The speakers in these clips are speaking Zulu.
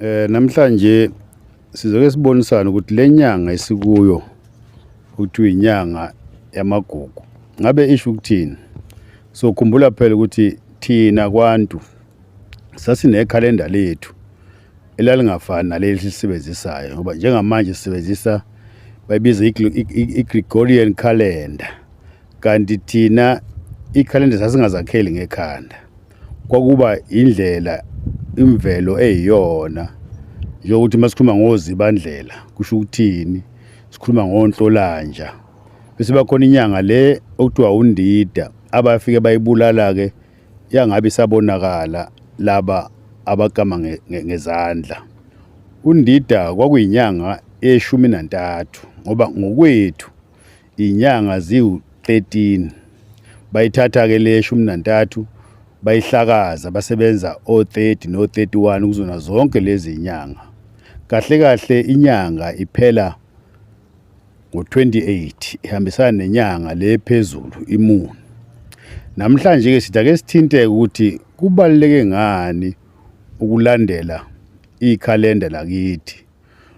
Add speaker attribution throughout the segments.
Speaker 1: Eh namhlanje sizoke sibonisana ukuthi lenyanga esikuyo ukuthi inyanga yamagugu ngabe isho ukuthini so khumbula phela ukuthi thina kwantu sasinekhalenda lethu elalingafani naleli sisebenzisayo ngoba njengamanje sisebenzisa bayibiza i-Gregorian calendar kanti thina ikhalenda sasingazakheli ngekhanda kwakuba indlela imvelo eyiyona njengokuthi uma sikhuluma ngozibandlela kusho ukuthini sikhuluma ngonhlolanja bese bakhona inyanga le okuthiwa undida abafike bayibulala-ke yangabe isabonakala laba abakama ngezandla undida kwakuyinyanga eshumi nantathu ngoba ngokwethu Inyanga ziwu-13 bayithatha ke le shumi nantathu bayihlakaza basebenza o-30 no-31 kuzona zonke lezi nyanga. Kahle kahle inyanga iphela ngo-28 ihambisana nenyanga le phezulu imuni. Namhlanje ke sithi ake sithinte ukuthi kubaluleke ngani ukulandela ikhalenda lakithi.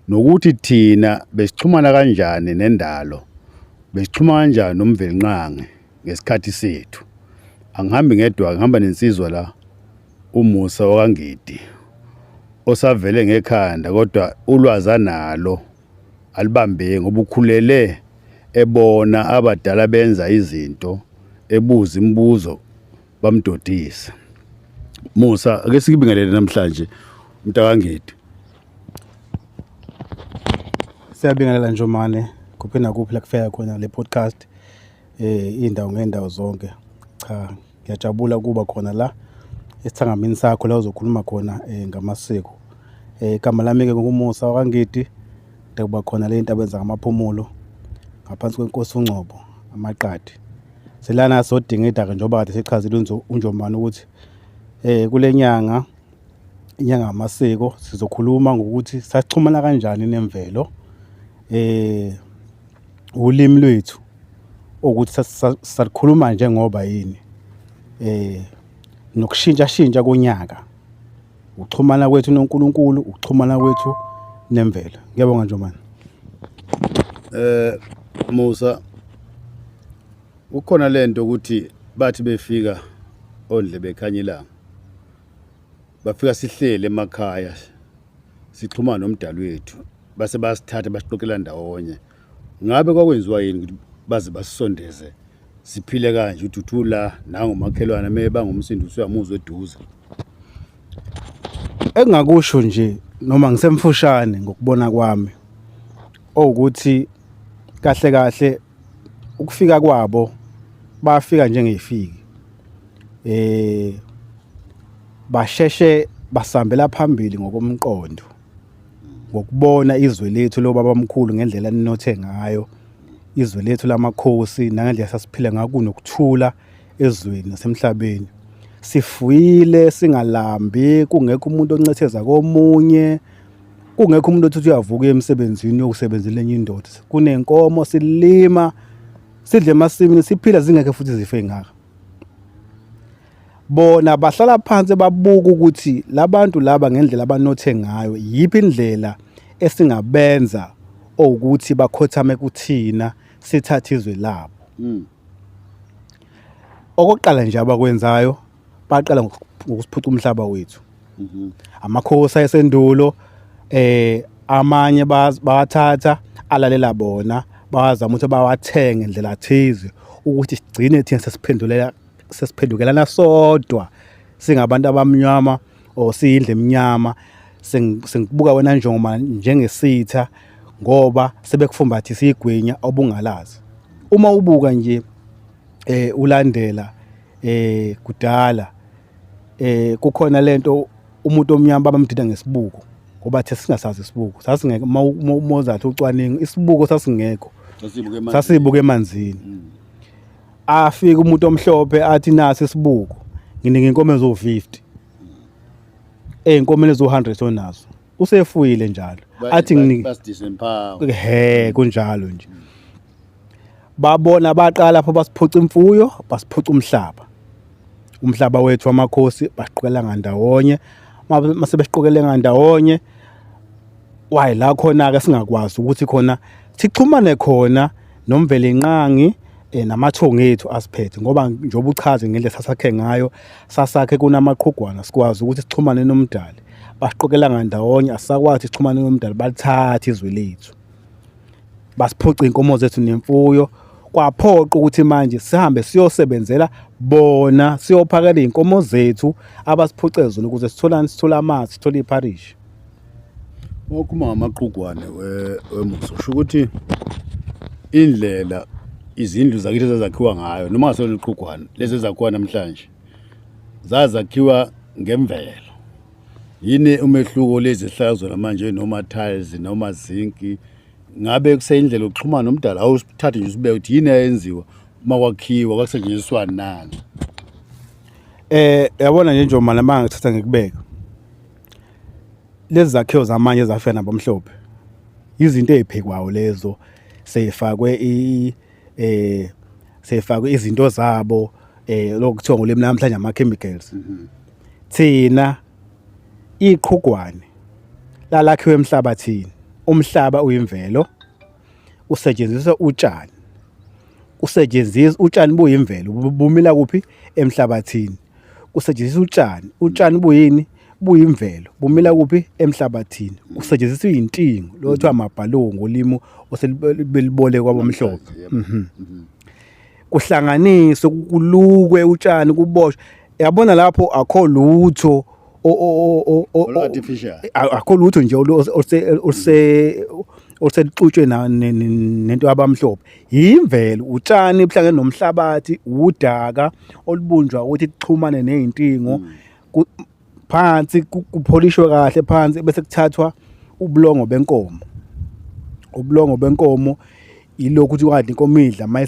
Speaker 1: nokuthi thina besixhumana kanjani nendalo besixhuma kanjani nomvelinqange ngesikhathi sethu angihambi ngedwa ngihamba nensizwa la umusa wakangidi osavele ngekhanda kodwa ulwazi analo alibambeki ngoba ukhulele ebona abadala benza izinto ebuza imibuzo bamdodisa Musa ake sikibingelele namhlanje mntakangedi
Speaker 2: Siyabingelela Njomane kuphi nakuphi la kufika khona le podcast eh indawo ngendawo zonke cha ngiyajabula ukuba khona la esithangamini sakho la uzokhuluma khona eh, ngamasiko eh igama lami ke ngokumusa wakangidi ngiyakuba khona le nto abenza ngamaphumulo ngaphansi kwenkosi uNgcobo amaqadi Selana sodingida-ke njengoba kade sechazile uNjomane ukuthi um kule nyanga inyanga yamasiko sizokhuluma ngokuthi saxhumana kanjani nemvelo eh ulimi lwethu ukuthi salikhuluma njengoba yini eh nokushintsha shintsha konyaka Ukuxhumana kwethu noNkulunkulu, ukuxhumana kwethu nemvelo. Ngiyabonga Njomane. Eh
Speaker 1: Musa ukhona lento ukuthi bathi befika ondle bekhanyelanga bafika sihlele emakhaya sixhumana nomdali wethu base basithatha basixoxela ndawonye ngabe kwakwenziwa yini ukuthi baze basisondeze siphile kanje uduthula nangu makhelwane me bangumsindo usuyamuzwa eduze
Speaker 2: engakusho nje noma ngisemfushane ngokubona kwami owukuthi kahle kahle ukufika kwabo bafika njengeyifiki eh basheshe basambela phambili ngokomqondo ngokubona izwe lethu lobaba mkhulu ngendlela ninothe ngayo izwe lethu lamakhosi nangendlela sasiphila ngaku nokuthula ezweni nasemhlabeni sifuyile singalambi kungekho umuntu oncetheza komunye kungekho umuntu othi uyavuka emsebenzini yokusebenzela enye indoda kunenkomo silima sidle emasimini siphila zingekho futhi zife ngaka bona bahlala phansi babuka ukuthi labantu laba ngendlela abanothe ngayo yiphi indlela esingabenza ukuthi bakhothame kuthina sithathe izwe labo hmm. okokuqala nje abakwenzayo baqala ngokusiphuca umhlaba wethu mhm. amakhosi ayesendulo eh amanye bawathatha alalela bona bawazama ukuthi bawathenge ndlela thize ukuthi sigcine thina sesiphendulela sesiphendukelana sodwa singabantu abamnyama or siyindle emnyama sengibuka wena njengoba njengesitha ngoba sebekufumbathisa igwinya obungalazi uma ubuka nje eh ulandela eh kudala eh kukhona lento umuntu omnyama babamdida ngesibuko ngoba the singasazi isibuko sasingeke uma uzathi ucwaningo isibuko sasingekho sasibuke emanzini mm. afike umuntu omhlophe athi nasi isibuko nginika inkomo ezo-50 ey'nkomeni ezo-100 onazo usefuyile njalo athi he kunjalo nje babona baqala lapho basiphuca imfuyo basiphuca umhlaba umhlaba wethu wamakhosi basiqokelela ngandawonye mase besiqokelela ngandawonye wayi la khona-ke singakwazi ukuthi khona Sixhumane khona noMvelinqangi eh, namathongo ethu asiphethe ngoba njengoba uchaze ngendlela sasakhe ngayo sasakhe kunamaqhugwana sikwazi ukuthi sixhumane nomdali basiqokela ngandawonye asisakwazi sixhumane nomdali balithathe izwe lethu basiphuca inkomo zethu nemfuyo kwaphoqa ukuthi manje sihambe siyosebenzela bona siyophakela izinkomo zethu abasiphucezela ukuze sitholane sithola amanzi sithole iparish
Speaker 1: Wakhuluma ngamaqugwane wemuso usho ukuthi indlela izindlu zakithi ezazakhiwa ngayo noma ngasona iqhugwane lezi ezakhiwa namhlanje zazakhiwa ngemvelo yini umehluko lezi hlala zona manje noma tiles noma zinc ngabe kuseyindlela yokuxhumana nomdala awusithathe nje usibeke ukuthi yini eyenziwa uma kwakhiwa kwakusetshenziswani nani eh
Speaker 2: yabona nje njengoba manje ngithatha ngikubeka lezi zakhiwo zamanye ezafika nabamhlophe izinto eziphekwayo lezo seyifakwe i eh seyifakwe izinto zabo eh lokuthiwa ngolimi namhlanje ama chemicals mhm. thina iqhugwane lalakhiwe emhlabathini umhlaba uyimvelo usetshenziswa utshani usetshenziswa utshani buyimvelo bumila kuphi emhlabathini kusetshenziswa utshani utshani buyini buyimvelo bumila kuphi emhlabathini kusetshenziswa iy'ntingo lo kuthiwa amabhalungu ngolimi oselibelibole kwabamhlophe mhm. mhm. kuhlanganiswe kulukwe utshani kuboshwe yabona lapho akho lutho
Speaker 1: akho lutho nje
Speaker 2: oluse oluselixutshwe nento abamhlophe yimvelo utshani buhlangene nomhlabathi udaka olubunjwa ukuthi kuxhumane nezintingo mm. phansi kupholishwe kahle phansi bese kuthathwa ubulongo benkomo ubulongo benkomo ilokhu ukuthi wadla inkomo idla uma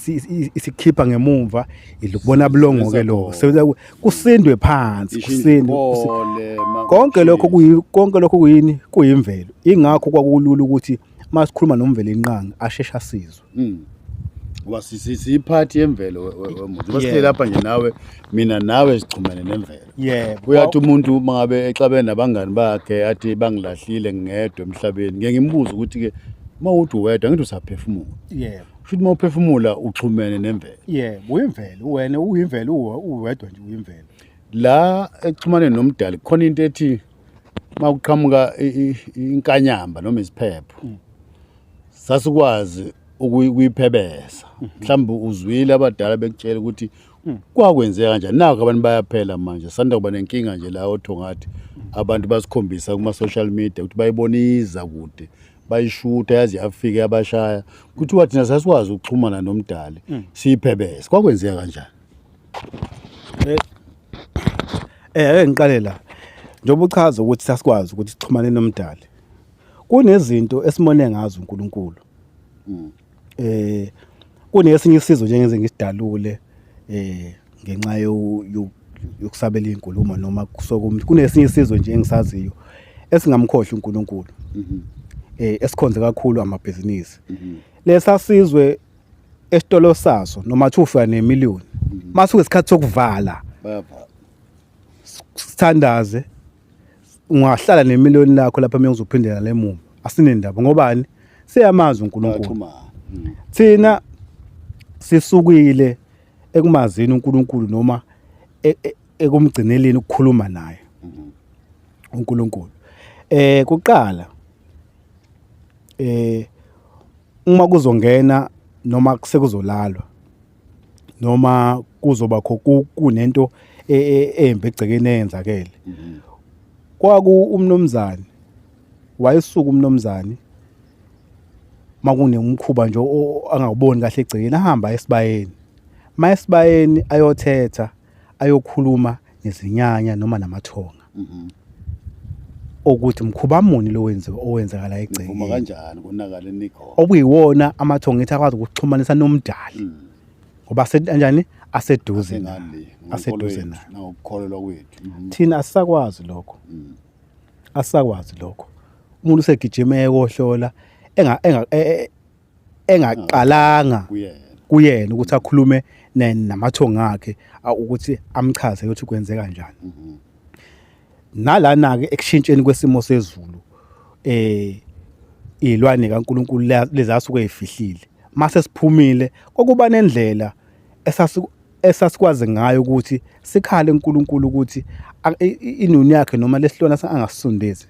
Speaker 2: isikhipha ngemumva idla ukubona bulongo-ke lokho kusindwe phansi kusindwe konke lokho kuyi konke lokho kuyini kuyimvelo ingakho kwakulula ukuthi masikhuluma nomvelo inqangi asheshe asizwe hmm. ngoba
Speaker 1: siyiphathi yemvelo wemuntu uba sihleli lapha nje nawe mina nawe sichumene nemvelo yebo uyathi umuntu uma ngabe exabene nabangani bakhe athi bangilahlile ngingedwa emhlabeni ngeke ngimbuze ukuthi-ke uma uthi uwedwa ngithi usaphefumula yebo Futhi uma uphefumula uxhumene nemvelo. Yebo, uyimvelo, wena
Speaker 2: uyimvelo uwe- uwedwa nje uyimvelo. La
Speaker 1: ekuxhumaneni nomdali khona into ethi makuqhamuka i- i- inkanyamba noma isiphepho. Sasikwazi ukuyi- ukuyiphebeza. Mhlawumbe uzwile abadala bekutshela ukuthi kwakwenzeka kanjani. Naku abantu bayaphela manje. Sanda kuba nenkinga nje la oThongathi. Abantu basikhombisa kuma social media ukuthi bayiboniza kude bayishuta yaze yafika yabashaya kuthiwa thina sasikwazi ukuxhumana nomdali mm. siyiphebese kwakwenzeka kanjani
Speaker 2: eh, eh ake ngiqale la njengoba uchaza ukuthi sasikwazi ukuthi sixhumane nomdali kunezinto esimone ngazo uNkulunkulu mm. eh kunesinye isizo nje ngeze ngisidalule eh ngenxa yokusabela inkulumo noma kusokumuntu kunesinye isizo nje engisaziyo esingamkhohli uNkulunkulu mhm. eh esikhonze kakhulu amabhizinisi mhm. lesasizwe esitolo saso noma thufa nemillion mhm. masuke isikhathi sokuvala sithandaze ungahlala nemiliyoni lakho lapha mina ngizophindela le muva asinendaba ngobani siyamazi uNkulunkulu mm. thina sisukile ekumazini uNkulunkulu noma e, e, ekumgcineleni ukukhuluma naye mm-hmm. uNkulunkulu eh kuqala eh uma kuzongena noma sekuzolalwa noma kuzoba kho kunento e, e, embi egcekeni eyenzakele mhm. kwaku umnomzane wayesuka umnomzane makunemkhuba nje angawuboni kahle egcekeni ahamba esibayeni mayesibayeni ayothetha ayokhuluma nezinyanya noma namathonga Mhm. okuthi mkhuba muni lo wenziwe owenzakala Uma egcekeni kanjani konakale
Speaker 1: nikhona. okuyiwona amathonga
Speaker 2: ethi akwazi ukuxhumanisa nomdali Mm. ngoba ase- kanjani aseduze Asengani naye, le. ngonkolo aseduze yethu, naye
Speaker 1: Nangokukholelwa kwethu. Mhm. thina asisakwazi
Speaker 2: lokho Mm. asisakwazi lokho umuntu usegijima eyohlola enga enga e- e- engaqalanga kuyena ukuthi akhulume namathongo akhe ukuthi amchaze ukuthi kwenzeka kanjani mhm. nalana ke ekushintsheni kwesimo sezulu eh izilwane kaNkuluNkulu lezasuke ezifihlile mase siphumile kokuba nendlela esasikwazi ngayo ukuthi sikhale uNkulunkulu ukuthi inuni yakhe noma lesilwana angasisondezi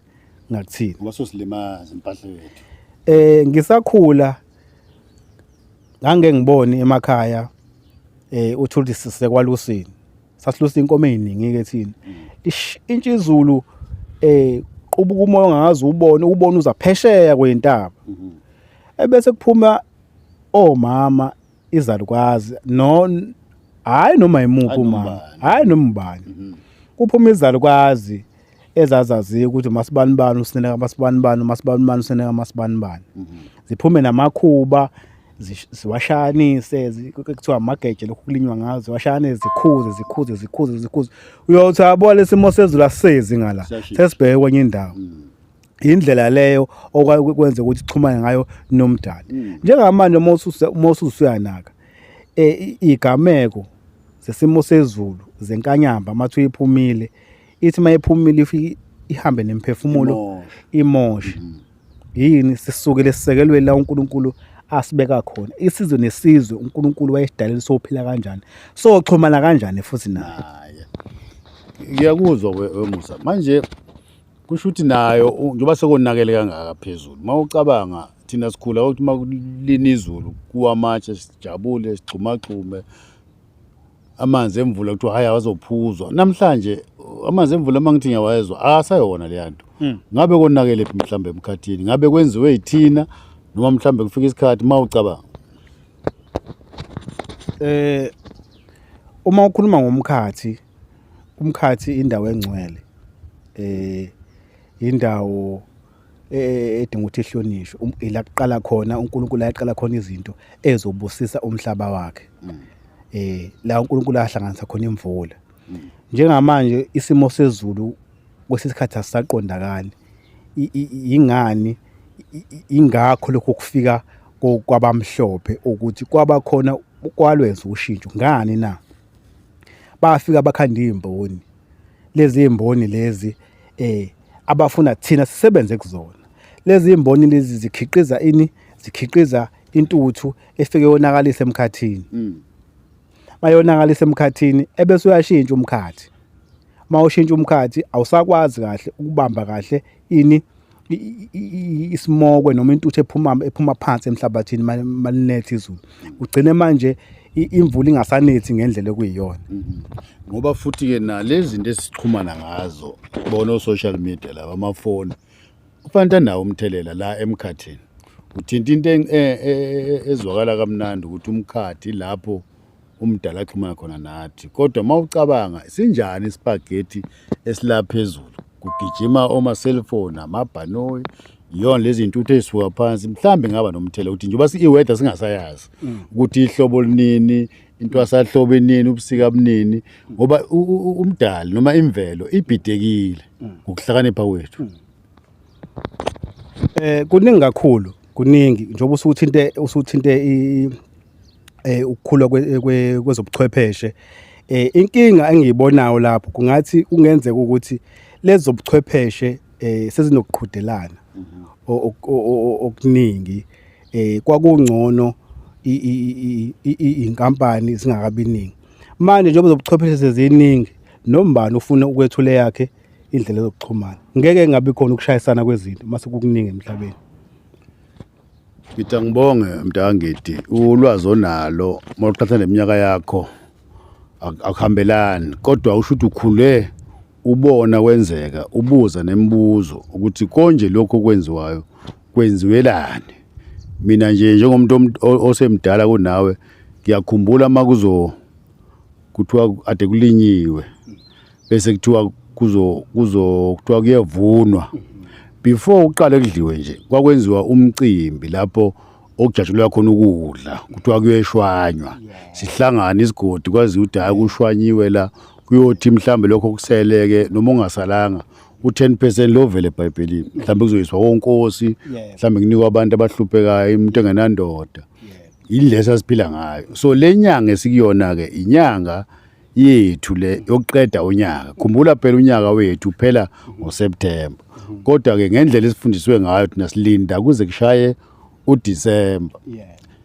Speaker 2: ngakuthini ngoba sosilimaza
Speaker 1: impahla yethu eh ngisakhula
Speaker 2: ngange ngiboni emakhaya eh uthuli sisekwalusini sasilusa inkomo eziningi ke thina ishintsha izulu eh qubuka umoya ongazi ubone ubona uza phesheya kwentaba ebese kuphuma omama izalukwazi no hayi noma yimuphi umama hayi noma ubani mhm. kuphuma izalukwazi ezazaziyo ukuthi masibani bani usineka masibani bani masibani bani usineka masibani bani mhm. ziphume namakhuba ziwashanise kuthiwa amageje lokhu kulinywa ngazo ziwashane zikhuze zikhuze zikhuze zikhuze uyothi yabo lesimo sezulu asisezi ngala sesibheke kwenye indawo mm. indlela leyo okwakwenza ukuthi ixhumane ngayo nomdali mm. njengamanje uma ususuyanaka eh, igameko zesimo sezulu zenkanyamba mathu iphumile ithi mayephumile ifike ihambe nemphefumulo imoshe mm. yini sisukele sisekelwe la uNkulunkulu asibeka khona isizwe nesizwe uNkulunkulu wayesidalela sophila kanjani so xhumana kanjani futhi naye
Speaker 1: ngiyakuzwa wemusa manje kusho ukuthi nayo njengoba sekonakele kangaka phezulu uma ucabanga thina sikhula ukuthi uma kulina izulu kuwamatshe sijabule sigxumagxume amanzi emvula kuthiwa hhayi awazophuzwa namhlanje amanzi emvula uma ngithi ngiyawayezwa asayona leya nto hmm. ngabe konakele phi mhlawumbe emkhathini ngabe kwenziwe yithina noma mhlawumbe kufika isikhathi uma ucabanga eh
Speaker 2: uma ukhuluma ngomkhathi umkhathi indawo engcwele eh indawo e, e, edinga ukuthi ihlonishwe um, ila kuqala khona uNkulunkulu ayaqala khona izinto ezobusisa umhlaba wakhe mm. eh la uNkulunkulu ahlanganisa khona imvula mm. njengamanje isimo sezulu kwesikhathi asisaqondakali ingani ingakho lokho kufika kwabamhlophe ukuthi kwaba khona kwalwenza ushintsho ngani na bafika bakhanda izimboni lezi zimboni lezi eh abafuna thina sisebenze kuzona lezi zimboni lezi zikhiqiza ini zikhiqiza intuthu efike yonakalisa emkhathini mm. mayonakalisa emkhathini ebese uyashintsha umkhathi uma ushintsha umkhathi awusakwazi kahle ukubamba kahle ini isimokwe noma intuthu ephuma ephuma phansi emhlabathini malinethi izulu ugcine manje imvula ingasanethi ngendlela okuyiyona mm-hmm. ngoba
Speaker 1: futhi ke nalezi zinto esichumana ngazo bona o-social media laba amafoni kufanele anawo umthelela la emkhathini uthinta into e, e, e, ezwakala kamnandi ukuthi umkhathi lapho umdala axhumana khona nathi kodwa uma ucabanga sinjani isipagethi esilapha phezulu kugijima oma-cellphone amabhanoyi yona lezi ntuthu ezisuka phansi mhlawumbe ngaba nomthela ukuthi njengoba i-weather singasayazi mm. ukuthi ihlobo linini intwasahlobo inini ubusika bunini ngoba umdali noma imvelo ibhidekile mm. ngokuhlakanipha kwethu mm.
Speaker 2: eh kuningi kakhulu kuningi njengoba usuthinte usuthinte eh ukukhula kwezobuchwepheshe eh inkinga engiyibonayo lapho kungathi kungenzeka ukuthi lezobuchwepheshe eh sezinokuqhudelana mhm. okuningi eh kwakungcono inkampani singakabiningi manje njengoba zobuchwepheshe seziningi nombani ufuna ukwethula yakhe indlela zokuxhumana ngeke ngabe khona ukushayisana kwezinto mase kukuningi emhlabeni
Speaker 1: Ngitha ngibonge mntangidi ulwazi onalo uma uqhatha neminyaka yakho ak- akuhambelani kodwa usho ukuthi ukhule ubona kwenzeka ubuza nemibuzo ukuthi konje lokho okwenziwayo kwenziwelani mina nje njengomuntu omt- o- osemdala kunawe ngiyakhumbula uma kuzo kuthiwa ade kulinyiwe bese kuthiwa kuzo kuzo kuthiwa kuyevunwa before uqale kudliwe nje kwakwenziwa umcimbi lapho okujatshulwa khona ukudla kuthiwa kuyeshwanywa sihlangana isigodi kwazi ukuthi hayi kushwanyiwe la kuyothi mhlambe lokho kuseleke noma ungasalanga u10 percent lovele ebhayibhelini mhlambe kuzoyiswa konkosi mhlambe kunikwa abantu abahluphekayo umuntu engenandoda yindlela esasiphila ngayo so le nyanga esikuyona-ke inyanga yethu le yokuqeda unyaka khumbula phela unyaka wethu uphela ngoSeptember kodwa ke ngendlela esifundiswe ngayo thina silinda kuze kushaye uDecember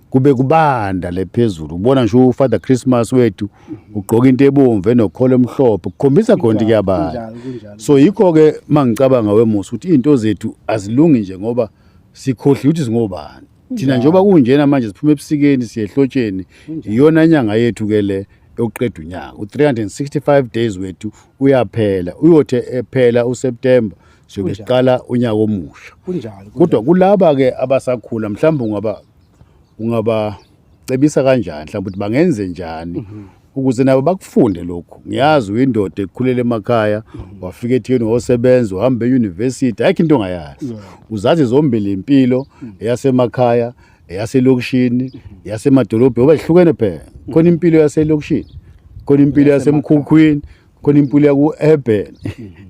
Speaker 1: kube kubanda le phezulu ubona nje ufather christmas wethu ugqoka into ebomvu enokholo emhlophe kukhombisa khona ukuthi kuyabala so yikho ke mangicabanga wemusa ukuthi izinto zethu azilungi nje ngoba sikhohliwe ukuthi singobani thina njengoba kunjena manje siphuma ebusikeni siyehlotsheni iyona inyanga yethu ke le yokuqeda unyaka u-365 days wethu uyaphela uyothe ephela useptemba siyobe siqala unyaka omusha kodwa kulaba-ke abasakhula mhlawumbe ungaba ungabacebisa kanjani mhlawumbe ukuthi bangenze njani mhm. ukuze nabo bakufunde lokhu ngiyazi uyindoda ekhulele emakhaya wafika ethikeni wosebenza uhamba eyunivesithi ayikho into ongayazi uzazi zombili impilo eyasemakhaya eyaselokishini eyasemadolobheni ngoba zihlukene phela khona impilo yaselokishini khona impilo yasemkhukhwini khona impilo yaku-urban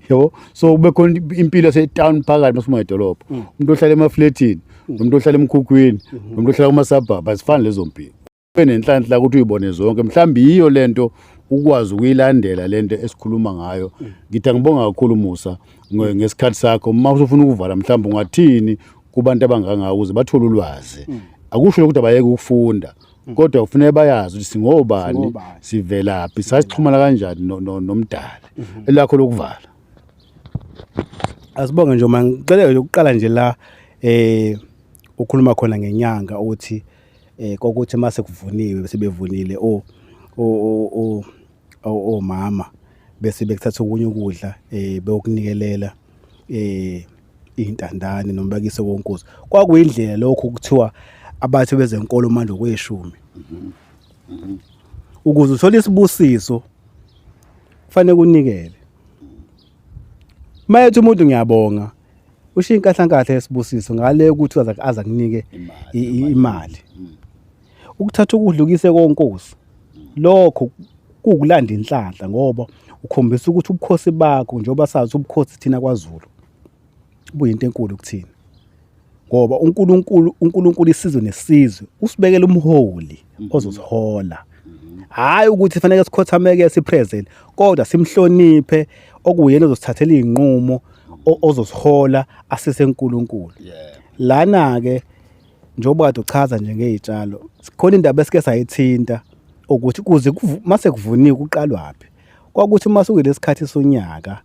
Speaker 1: yabo so kube khona impilo yasetown phakathi masuma edolobha umuntu ohlala emafletini nomuntu ohlala emkhukhwini nomuntu ohlala kuma-suburb azifani lezo mpilo benenhlanhla ukuthi uyibone zonke mhlawumbe yiyo lento ukwazi ukuyilandela lento esikhuluma ngayo ngithi angibonga kakhulu Musa ngesikhathi sakho uma usufuna ukuvala mhlawumbe ungathini kubantu abanganga ukuze bathole ulwazi akusho ukuthi abayeke ukufunda kodwa kufanele bayazi ukuthi singobani sivelaphi sasixhumana kanjani nomdali mhm. elakho lokuvala
Speaker 2: asibonge nje uma ngicela ukuqala nje la eh ukhuluma khona ngenyanga ukuthi eh kokuthi mase kuvuniwe sebevunile o o o omama bese bekuthatha okunye ukudla eh beyokunikelela eh intandane noma bakise konkuza kwakuyindlela lokho kuthiwa abathi bezenkolo manje kweshumi ukuze uthole isibusiso kufanele kunikele mayethi umuntu ngiyabonga ushiye inkahlankatha yesibusiso ngale ukuthi aza aza kunike imali mm. ukuthatha ukudlukise konkosi lokho kukulanda inhlanhla ngoba ukhombisa ukuthi ubukhosi bakho njengoba sazi ubukhosi thina kwaZulu buyinto enkulu kuthina ngoba uNkulunkulu uNkulunkulu isizwe nesizwe usibekela umholi mhm. ozosihola mhm. hhayi ukuthi faneke sikhothameke siphrezel kodwa simhloniphe okuyena ozosithathela iy'nqumo ozosihola asise nkulunkulu lana-ke njengoba kade uchaza nje ngey'tshalo khona indaba esike sayithinta ukuthi kuze mase kuvuniwe kuqalwaphi kwakuthi uma sukuyilesi khathi sonyaka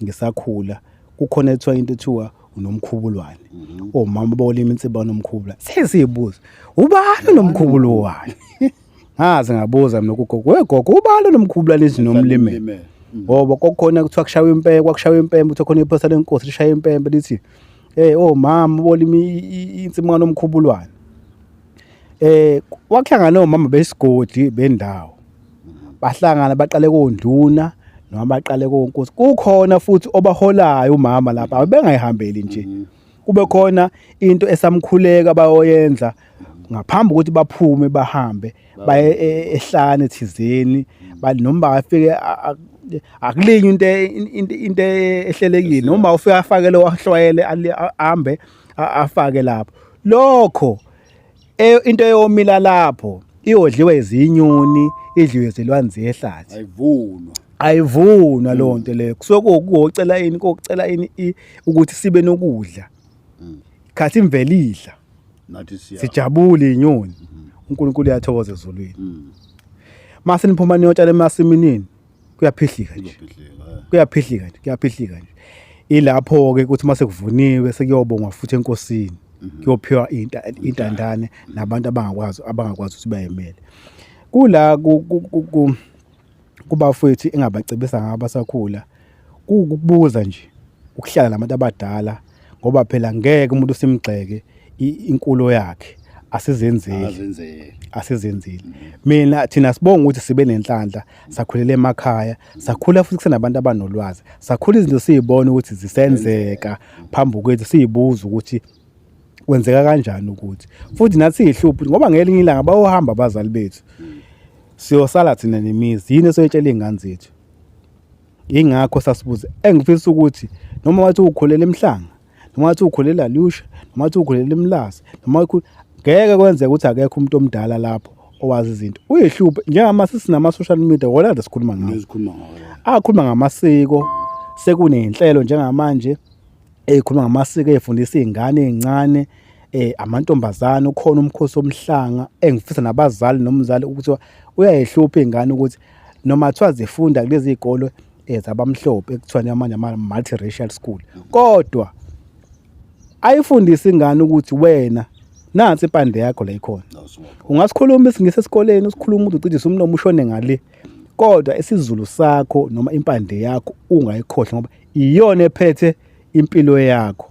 Speaker 2: ngisakhula kukhona ethiwa into ethiwa unomkhubulwane mhm. omama oh, bawolima insipho banomkhubula sesiyibuza ubani nomkhubulo wani ngaze ngabuza mina kugogo wegogo ubani nomkhubula lezinomlime mm. ngoba kokukhona kuthiwa kushawa impempe kwakushawa impempe kuthiwa khona iphosa lenkosi lishaya impempe lithi eh oh mama bolima insipho kanomkhubulwane eh wakuhlangana nomama besigodi bendawo bahlangana baqale konduna noma baqale konkosi kukhona futhi obaholayo umama lapha bengayihambeli nje mm-hmm. kube khona into esamkhuleka bayoyenza ngaphambi ukuthi baphume bahambe baye e, ehlane thizeni mm-hmm. noma bafike akulinye into e, into e, ehlelekile noma ufika afakele wahlwayele ahambe afake lapho lokho E, into eyomila lapho iyodliwa izinyoni idliwe izilwanzi ehlathi ayivunwa ayivunwa leyo nto leyo kusuke kuwukucela ini kokucela ini i- ukuthi sibe nokudla khathi imvelo idla nathi siya sijabule inyoni uNkulunkulu uyathokoza ezulwini mase niphuma niyotshala emasimini kuyaphihlika nje kuyaphihlika nje kuyaphihlika nje ilapho-ke ukuthi uma sekuvuniwe sekuyobongwa futhi enkosini mhm. kuyophiwa intandane mhm. nabantu abangakwazi abangakwazi ukuthi bayemele kula kubafowethu engabacebisa ngabo abasakhula kukubuza nje ukuhlala nabantu abadala ngoba phela ngeke umuntu simgxeke inkulo yakhe asizenzeli azenzele asizenzeli mina thina sibonga ukuthi sibe nenhlanhla sakhulela emakhaya sakhula futhi kusenabantu abanolwazi sakhula izinto siyibona ukuthi zisenzeka phambi kwethu siyibuza ukuthi kwenzeka kanjani ukuthi futhi nathi siyihluphi ngoba ngelinye ilanga bayohamba abazali bethu siyosala thina nemizi yini esoyitshela iy'ngane zethu Yingakho sasibuze engifisa ukuthi noma wathi ukhulela emhlanga noma wathi ukhulela lusha noma wathi ukhulela emlazi noma ngeke kwenzeke ukuthi akekho umuntu omdala lapho owazi izinto uyihluphe njengama sisinama social media wona nje sikhuluma ngawo sikhuluma ngawo
Speaker 1: akhuluma ngamasiko
Speaker 2: sekunenhlelo njengamanje ezikhuluma ngamasiko ezifundisa izingane ezincane eh amantombazana ukhona umkhosi omhlanga engifisa nabazali nomzali ukuthi uyayihlupha ingane ukuthi noma kuthiwa zifunda kulezi zikole ezabamhlophe eh, ekuthiwa amanye ama multiracial school kodwa ayifundisi ingane ukuthi wena nansi impande yakho la ikhona ungasikhuluma isingise esikoleni usikhuluma umuntu ucijisa umlomo ushone ngale kodwa isizulu sakho noma impande yakho ungayikhohlwa ngoba iyona ephethe impilo yakho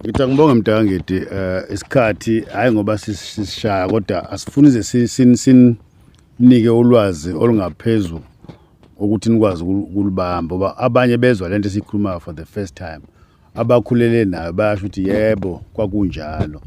Speaker 1: Ngithi angibonge mntangidi um eh, isikhathi hhayi ngoba sisishaya kodwa asifuni ze sinike ulwazi olungaphezu ukuthi nikwazi ukulibamba ngoba abanye bezwa le nto esiyikhulumayo for the first time abakhulele nayo bayasho ukuthi yebo kwakunjalo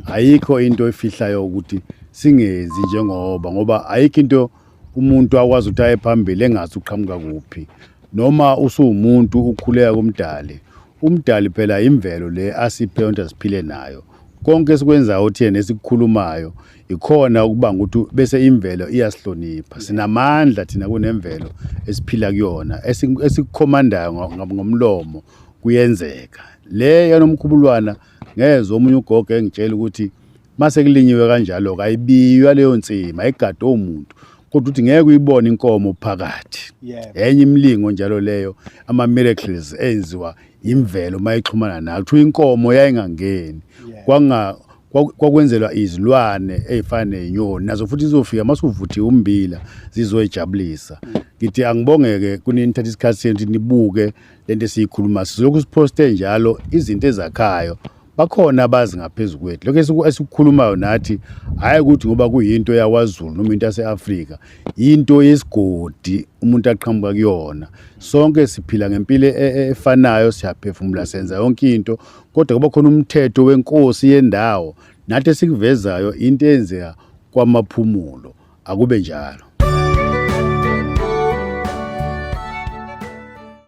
Speaker 1: ayikho into efihlayo ukuthi singenzi njengoba ngoba ayikho into umuntu akwazi ukuthi aye phambili engazi uqhamuka kuphi noma usuwumuntu ukhuleka kumdali umdali phela imvelo le asiphe yonke siphile nayo konke esikwenzayo thina esikukhulumayo ikhona ukubanga ukuthi bese imvelo iyasihlonipha sinamandla thina kunemvelo esiphila kuyona esikukhomandayo ngomlomo kuyenzeka le yanomkhubulwana ngezwe omunye ugogo engitshela ukuthi Mase kulinyiwe kanjalo kayibiywa leyo nsima egade omuntu kodwa uthi ngeke uyibone inkomo phakathi enye imlingo njalo leyo ama miracles enziwa imvelo mayixhumana nayo kuthiwa inkomo yayingangeni kwanga kwakwenzelwa izilwane ezifana nenyoni nazo futhi izofika masuvuthiwe umbila zizoyijabulisa ngithi angibongeke kunini nithatha isikhathi senu ukuthi nibuke lento esiyikhuluma silokhu siposte njalo izinto ezakhayo bakhona abazi ngaphezu kwethu lokho esikukhulumayo nathi hhayi ukuthi ngoba kuyinto yakwazulu noma into yase-afrika yinto yesigodi umuntu aqhamuka kuyona sonke siphila ngempilo e, e, efanayo siyaphefumula senza yonke into kodwa kuba khona umthetho wenkosi yendawo nathi esikuvezayo into eyenzeka kwamaphumulo akube njalo